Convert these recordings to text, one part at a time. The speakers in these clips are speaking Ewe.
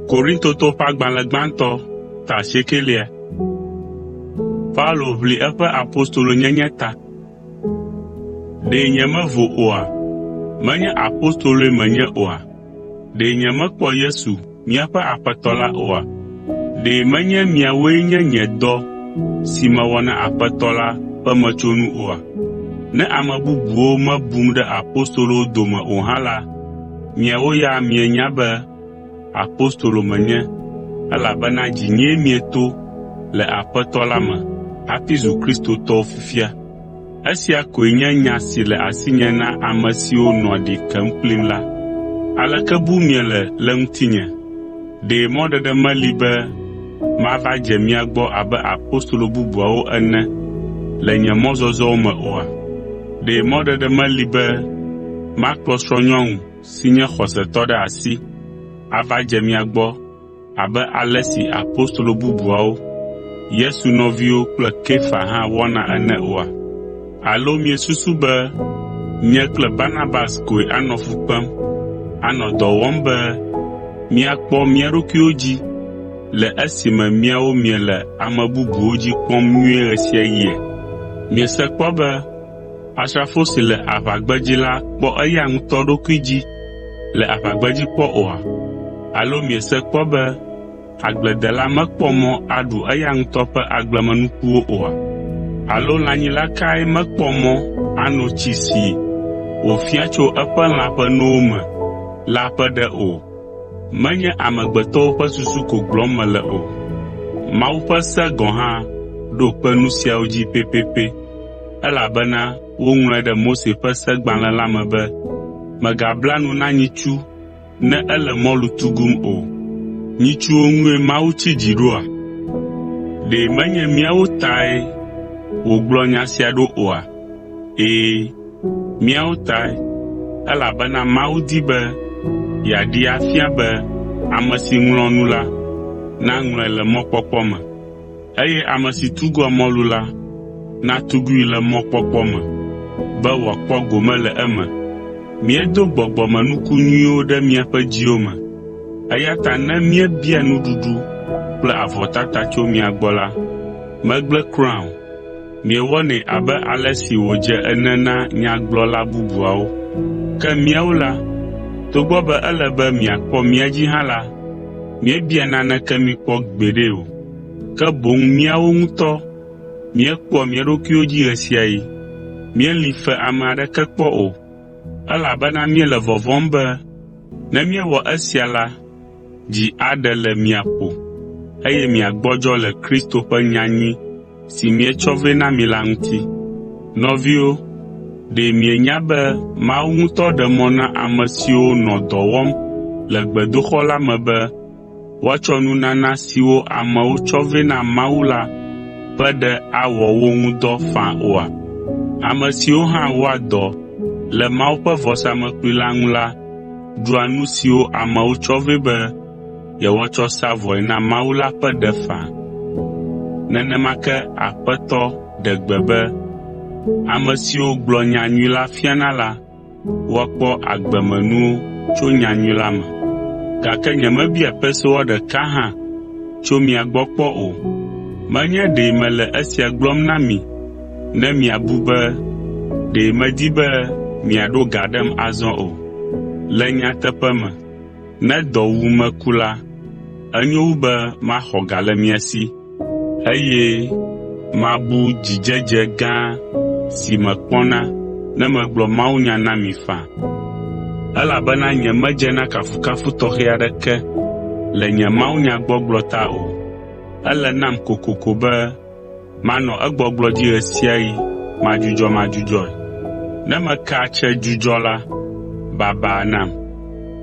Korintoto ƒe agbalẽ gbãtɔ ta asiekɛlia. Paulo ʋli eƒe apostolonyenye ta. Ɖe nyemevo oa? Menye apostoloe menye oa? Ɖe nyemekpɔ Yesu Míaƒe Aƒetɔ la oa? Ɖe menye miawoe nye nye dɔ si mewɔ na Aƒetɔ la ƒe metsonu oa? Ne ame bubuwo mebum ɖe apostolowo dome o hã la, miawo ya mienya be apostolo menye, elabena dzinyee mieto le Aƒetɔ la me hafi zu Kristotɔwo fifia. Esia koe nye nya si le asinye na ame siwo nɔa ɖi kem kplim la. Aleke bum miele le ŋutinye? Ɖe mɔɖeɖe meli be mava dze mia gbɔ abe apostolo bubuawo ene le nye mɔzɔzɔwo me oa? Ɖe mɔɖeɖe meli be makplɔ srɔ̃nyɔnu si nye xɔsetɔ ɖe asi ava dze mia gbɔ abe ale si apostolo bubuawo, Yesu nɔviwo kple Kefa hã wɔna ene oa? Alo miesusu be nye kple Barnabas koe anɔ fu kpem, anɔ dɔ wɔm be míakpɔ mía ɖokuiwo dzi le esime miawo miele ame bubuwo dzi kpɔm nyuie ɣe sia ɣia? Miese kpɔ be Asrafo si le aʋagbedzi la kpɔ eya ŋutɔ ɖokui dzi le aʋagbedzi kpɔ oa? Alo miese kpɔ be agbledela mekpɔ mɔ aɖu eya ŋutɔ ƒe agblemenukuwo oa? Alo lãnyila kae mekpɔ mɔ ano tsi si wòfia tso eƒe lã ƒe nowo me la ƒe ɖe o? Menye amegbetɔwo ƒe susu ko gblɔm mele o, Mawu ƒe se gɔ̃ hã ɖo kpe nu siawo dzi pɛpɛpɛ. Elabena woŋlɔe ɖe Mose ƒe segbalẽ la me be, “Mègabla nu na nyitsu ne ele mɔlu tugum o.” Nyitsuwo ŋue Mawu tsi dzi ɖoa? Ɖe menye míawo tae wògblɔ nya sia ɖo oa? Ɛ̃, míawo tae, elabena Mawu di be yeaɖee afia be ame si ŋlɔa nu la naŋlɔe le mɔkpɔkpɔ me. Eye ame si tugua mɔlu la, natugui le mɔkpɔkpɔ me, be wòakpɔ gome le eme. Míedo gbɔgbɔmenuku nyuiwo ɖe miaƒe dziwo me, eya ta ne míebia nuɖuɖu kple avɔtata tso mia gbɔ la, megblẽ kura o. Miewɔnɛ abe ale si wòdze ene na nyagblɔla bubuawo. Ke míawo la, togbɔ be ele be miakpɔ mía dzi hã la, míebia naneke mi kpɔ gbeɖe o. ke boŋ míawo ŋutɔ míekpɔa mía ɖokuiwo dzi ɣe sia ɣi. Míeli fe ame aɖeke kpɔ o, elabena míele vɔvɔ̃m be ne míewɔ esia la, dzi aɖe le mia ƒo, eye miagbɔdzɔ le Kristo ƒe nyanyui si míetsɔ vɛ na mi la ŋuti. Nɔviwo, ɖe mienya be Mawu ŋutɔ ɖe mɔ na ame siwo nɔ dɔ wɔm le gbedoxɔ la me be woatsɔ nunana siwo amewo tsɔ vɛ na Mawu la ƒe ɖe awɔ wo ŋu dɔ faa oa? Ame siwo hã wɔa dɔ le Mawu ƒe vɔsamlekpui la ŋu la ɖua nu siwo amewo tsɔ vɛ be yewoatsɔ sa vɔe na Mawu la ƒe ɖe faa. Nenema ke Aƒetɔ ɖe gbe be, “Ame siwo gblɔ nya nyui la fiana la, woakpɔ agbemenuwo tso nyanyui la me. Gake nyemebia pesewa ɖeka hã tso mia gbɔ kpɔ o. Menye ɖe mele esia gblɔm na mi ne miabu be ɖe medi be miaɖo ga ɖem azɔ o. Le nyateƒe me, Ne dɔ wum meku la, enyo wu be maxɔ ga le mia si eye mabu dzidzedze gã si mekpɔna ne megblɔ mawunya na mi faa. Elabena nyemedze na kafukafu tɔxɛ aɖeke le nye mawunyagbɔgblɔ ta o. Ele nam kokoko be Manɔ egbɔgblɔ dzi ɣe sia ɣi madzudzɔmadzudzɔe. Ne mekea tsɛ dzudzɔ la, baba nam!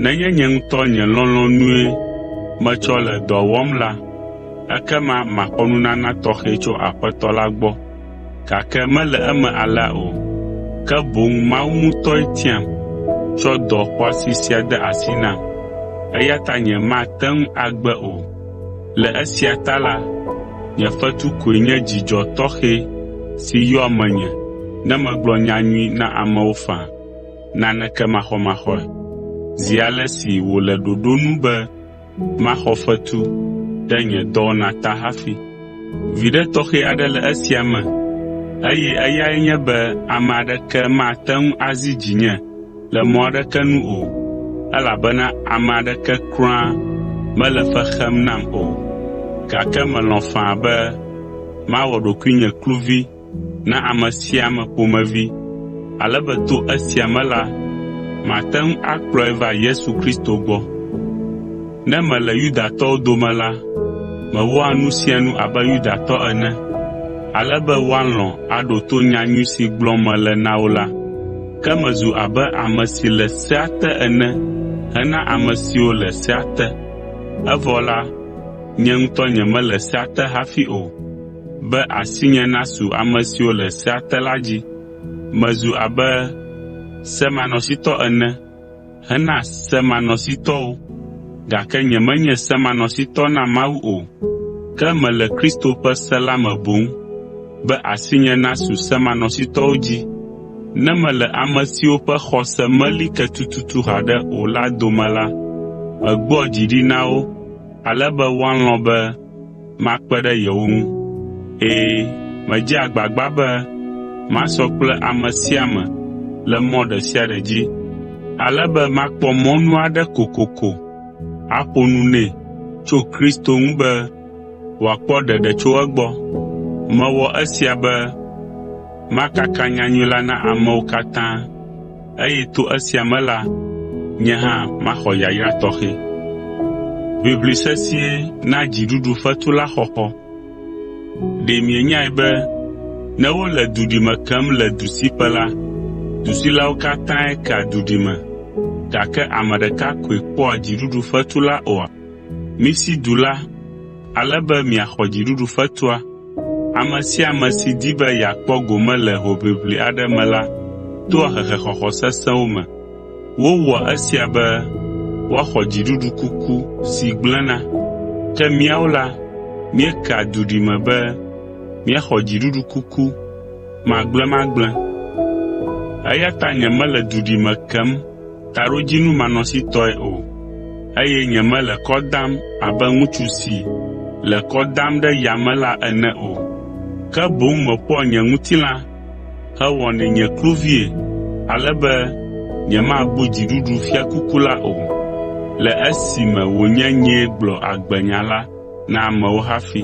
Nenye nye ŋutɔ nye lɔlɔ̃nue metsɔ le dɔa wɔm la, ekema maxɔ nunana tɔxɛ tso Aƒetɔ la gbɔ. Gake mele eme alea o, ke boŋ Mawu ŋutɔe tiam tsɔ dɔ xɔasi sia de asi nam, eya ta nyemate ŋu agbe o. Le esia ta la, nye fetu koe nye dzidzɔ tɔxɛ si yɔa menye ne megblɔ nyanyui na amewo faa, naneke maxɔmaxɔe. Zi ale si wòle ɖoɖo nu be maxɔ fetu ɖe nye dɔwɔna ta hafi. Viɖe tɔxɛ aɖe le esia me, eye eyae nye be ame aɖeke mate ŋu azi dzinye le mɔ aɖeke nu o, elabena ame aɖeke kura mele fe xem nam o. Gake melɔ̃ faa be mawɔ ɖokuinye kluvi na ame sia ame ƒomevi, ale be to esia me la, mate ŋu akplɔe va Yesu Kristo gbɔ. Ne mele Yudatɔwo dome la, mewɔa nu sia nu abe Yudatɔ ene, ale be woalɔ̃ aɖo to nyanyui si gblɔm mele na wo la. Ke mezu abe ame si le sea te ene hena ame siwo le sea te. Evɔ la, nye ŋutɔ nyemele sea te hafi o, be asinye nasu ame siwo le sea te la dzi. Mezu abe semanɔsitɔ ene, hena semanɔsitɔwo, gake nyemenye semanɔsitɔ na Mawu o, ke mele Kristo ƒe se la me boŋ, be asinye nasu semanɔsitɔwo dzi, ne mele ame siwo ƒe xɔse meli ke tututu haɖe o la dome la, megbɔa dzi ɖi na wo ale be woalɔ̃ be makpe ɖe yewo ŋu. Ɛ̃, medze agbagba be masɔ kple ame sia ame le mɔ ɖe sia ɖe dzi, ale be makpɔ mɔnu aɖe kokoko aƒo nu nɛ tso Kristo ŋu be wòakpɔ ɖeɖe tso egbɔ. Mewɔ esia be makaka nyanyui la na amewo katã. eye to esia me la, nye hã maxɔ yayra tɔxɛ. Ʋiʋli sesĩe na dziɖuɖu fetu la xɔxɔ. Ɖe mienyae be ne wole duɖime kem le dusiƒe la, dusilawo katãe kea duɖime, gake ame ɖeka koe kpɔa dziɖuɖu fetu la oa? Misi du la, ale be miaxɔ dziɖuɖu fetua. Ame sia ame si di be yeakpɔ gome le hoʋiʋli aɖe me la toa hehexɔxɔ sesẽwo me. Wowɔa esia be woaxɔ dziɖuɖu kuku si gblẽna. Ke míawo la, míekea duɖime be míaxɔ dziɖuɖu kuku magblẽmagblẽ. Eya ta nyemele duɖime kem taɖodzinu manɔsitɔe o, eye nyemele kɔ dam abe ŋutsu si le kɔ dam ɖe yame la ene o, ke boŋ meƒoa nye ŋutilã hewɔnɛ nye kluvie ale be nyemabu dziɖuɖu fiakuku la o, le esime wònye nyee gblɔ agbenya la na amewo hafi.